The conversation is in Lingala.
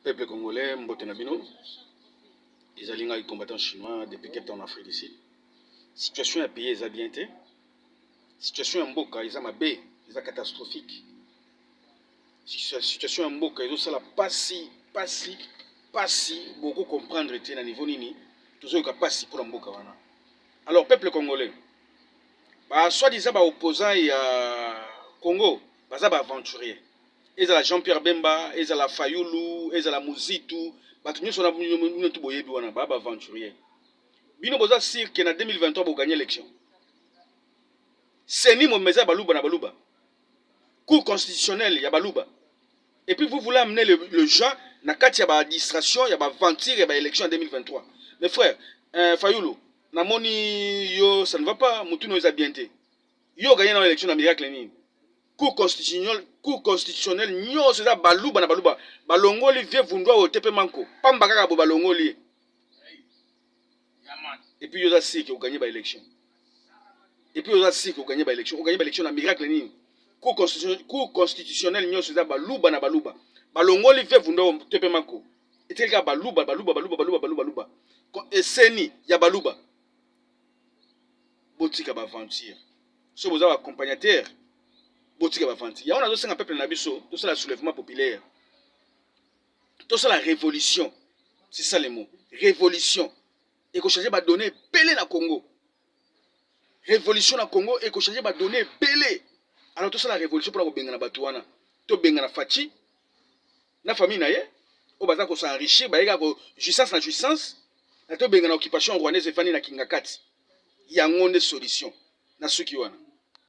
Peuple congolais, mbote na bino. Ezali ngai combattant chinois depuis Cape Town, Afrique du Sud. Situation ya pays eza bien te. Situation ya mboka eza mabe, eza catastrophique. Situation ya mboka ezosala pasi, pasi, pasi. Boko comprendre te na niveau nini tozoyoka pasi mpo na mboka wana. Alors peuple congolais, ba soi-disant ba opposants ya Congo baza ba aventuriers. ezala jean pierre bemba ezala fayulu ezala muzitu bato nyonso na bino tu boyebi wana baya baaventurier bino boza sire ke na 2023 boganye élection seni mobimba eza ya baluba na baluba cour constitutionnelle ya baluba et puis vous voulez amener le, le gens na kati ya baadministration ya baaventure ya baélection ya 2023 mes frères euh, fayulu namoni yo ça ne va pas motuna oyo eza bien te Yo gagner na election na miracle nini? Cour constitutionnelle, cour constitutionnelle nyoso eza baluba na baluba. Balongoli vieux vundwa oyo tepe manko. Pamba kaka bo balongoli. Et puis yo za sik o gagner ba election. Et puis yo za sik o gagner ba election. O gagner ba election na miracle nini? Cour constitutionnelle, cour constitutionnelle nyoso eza baluba na baluba. Balongoli vieux vundwa oyo tepe manko. Etikali kaka baluba baluba baluba baluba baluba baluba. Eseni ya baluba. botika ba aventure soki boza ba accompagnateur botika ba aventure yango nazosenga peuple na biso tosala soulèvement populaire tosala révolution c'est ça le mot révolution ekochange badonne ebele na congo révolution na congo ekochange badonne ebele alors tosala révolution mpona kobengana bato wana tobengana faci na famille na ye oyo baza ko s'enrichir baye kaka jouissance na jouissance na tobenga na occupation rwandaise efandi na kingakati yango nde solution na suki wana